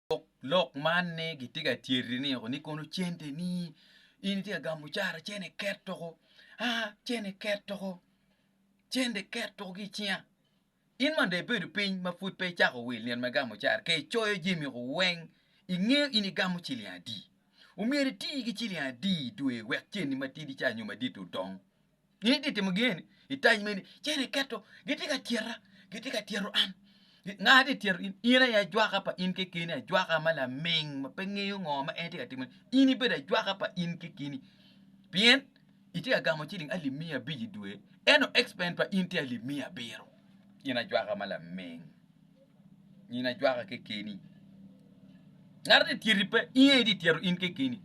Lok lok man ni gitye ka tyeri ni oko ni kono cente ni in itye ka gamo cara cene ket oko aa cene ket oko cente ket oko ki icinga in ma dong ibedo piny ma pud pe icako wil nino me gamo cara ka icoyo jami oko weng ingeyo in igamo ciling adi omyero iti ki ciling adi i dwe wek ceni matidi ca nyo madit-ti odong Gin ti timo gin eni i tac meni cen iketo giti ka tyeta giti ka tyero an nga ti tyero in in aye ajwaka pa in kekeni ajwaka ma laming ma pe ngeyo ngo ma en ti ka timone in ibedo ajwaka pa in kekeni pien iti ka gamo ciling alip miya abic idwe eno expen pa in ti alip miya abiro in ajwaka ma laming Nino ajwaka kekeni. Ngat ni tyeti pe, in aye di tyero in kekeni.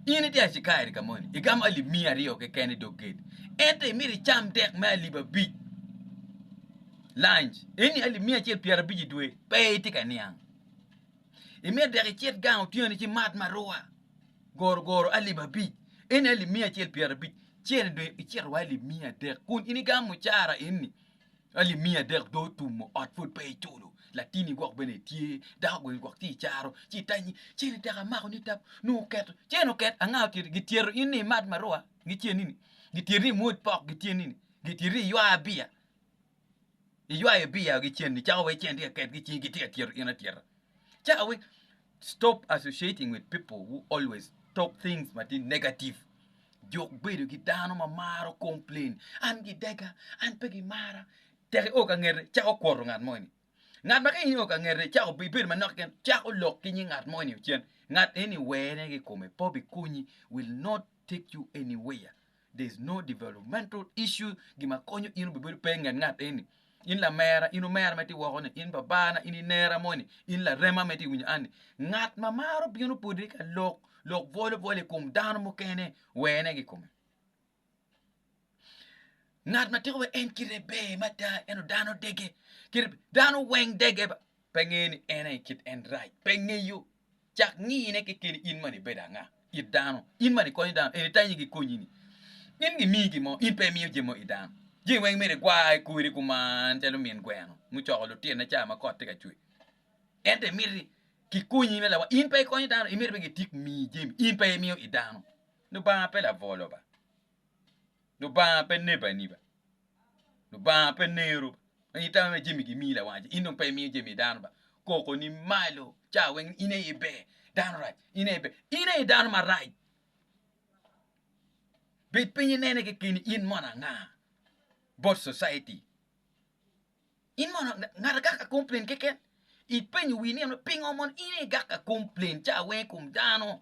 In itye acikaeri ka moni, igamo alip miya aryo keken i dog gate. Ento imito icam dek me alip abic lunch, eni alip miya acel pyera abic i dwe, pe itye ka niang. Imito dek icit gang otyeno ci imat maruwa goro goro alip abic, eni alip miya acel pyera abic, cen i dwe icito wa alip miya adek kun in igamo mucara eni. Alip miya adek do otumo ot pud pe iculo latini gwok bene tye dako gwok bene tye icaro ci itanyi cene tek amako ni tap nongo oketo cene oket anga ocito gityeto in ni imat marua gitye nini gityeti ni imwoc pok gitye nini gityeti ni iywa biya iywayo biya gicen icako wai cene tye ka ketgi icingi gitye ka tyeto in atyeta. ca awe stop associating with people who always talk things ma tye negative juk bedo ki dano ma maro complain an gidega an pe gimara tek io ka ngete cak okwoto ngat mo ni ngat ma ka in io ka ngete cak obedo manok keken cak olok ki nying ngat mo ni ocen ngat eni wene ki kome pe obikonyi will not take you anywhere There is no developmental issue gi ma konyo in obibedo pe inget ngat eni. In lamera, in omera ma itye woko-ni, in babana, in inera moni, in larema ma itye winyo anni. Ngat ma maro bino podi ka lok lok bwolo bwolo i kom dano mukene wene ki kome. Ngat ma tiko wa en kite ber mada eno dano dege. Kite dano weng dege ba pe ngeyo ni en aye kit en rac pe ngeyo. Cak ngiyine kekeni in man ibedo anga it dano, in man ikonyo dano eni tanyi gikonyi ni in gimiyi gin mo in pe imiyo jami mo it dano. Jami weng myero igwa i kori kuman calo min gweno mucoko lutinone cawa ma kot tye ka cwer ento imiti gikonyi me lawal in pe ikonyo dano imiti pe gitik miyi jami in pe imiyo it dano. Lubanga pe labwolo ba. Lubanga pe nebo aneba, Lubanga pe nero, i tamme ma jami gimiyi lawanci in dong pe imiyo jami dano ba, koko ni malo ca weng ni in aye iber, dano rac, in aye iber, in aye dano marac, bed piny inene keken ni in mono anga bot cociti, in mono anga, ngat agak ka komplain keken, ipenyo wii ni pingo mono in aye igak ka komplain ca weng i kom dano.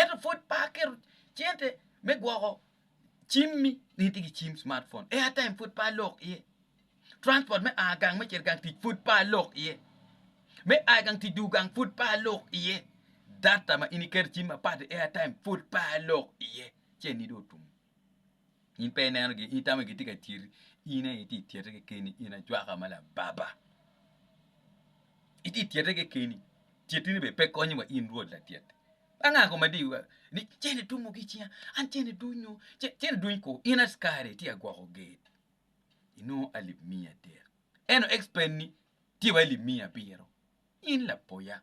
ento pud pe aketo cente me gwoko cimmi nino tye ki cim cimat pon airtime pud pe alok iye transport me a gang me cito gang tic pud pe alok iye me a igang tic dwogo gang pud pe alok iye data ma in iketo i cim mapat airtime pud pe alok iye ci anidi otum. In pe ineno gin, in itamo ni gitye ka tyeri, in aye itye ka tyete kekeni, in ajwaka ma lababa. Itye ka tyete kekeni, tyetini bene pe konyowa in Rwot Latyet. Ba nga kong ma diyowa ni cen etwomo ki i cinga, an cen eduny oo, cen eduny koo, in askari itye ka gwoko ger, inongo alip miya adek, ento expense-ni tye wa alip miya abiro, in lapoya.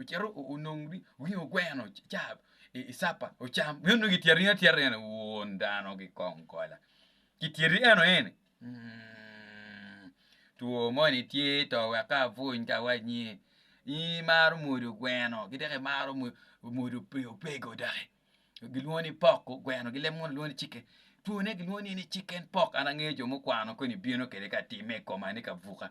ocito onongo ringo ogweno ca i capa ocam bino nongo kitye aringa tye aringa ni won dano ki kong kola kityeri eno eni two moni tye to wek ka apwony ka awanyi in imaro mwodo gweno ki dok imaro mwodo opego doki gilwongo ni pok gweno ki leb munu lwongo ni ciken two ne gilwongo ni ciken pok an angeyo jo mukwano koni bino kede ka time i koma ni ka buka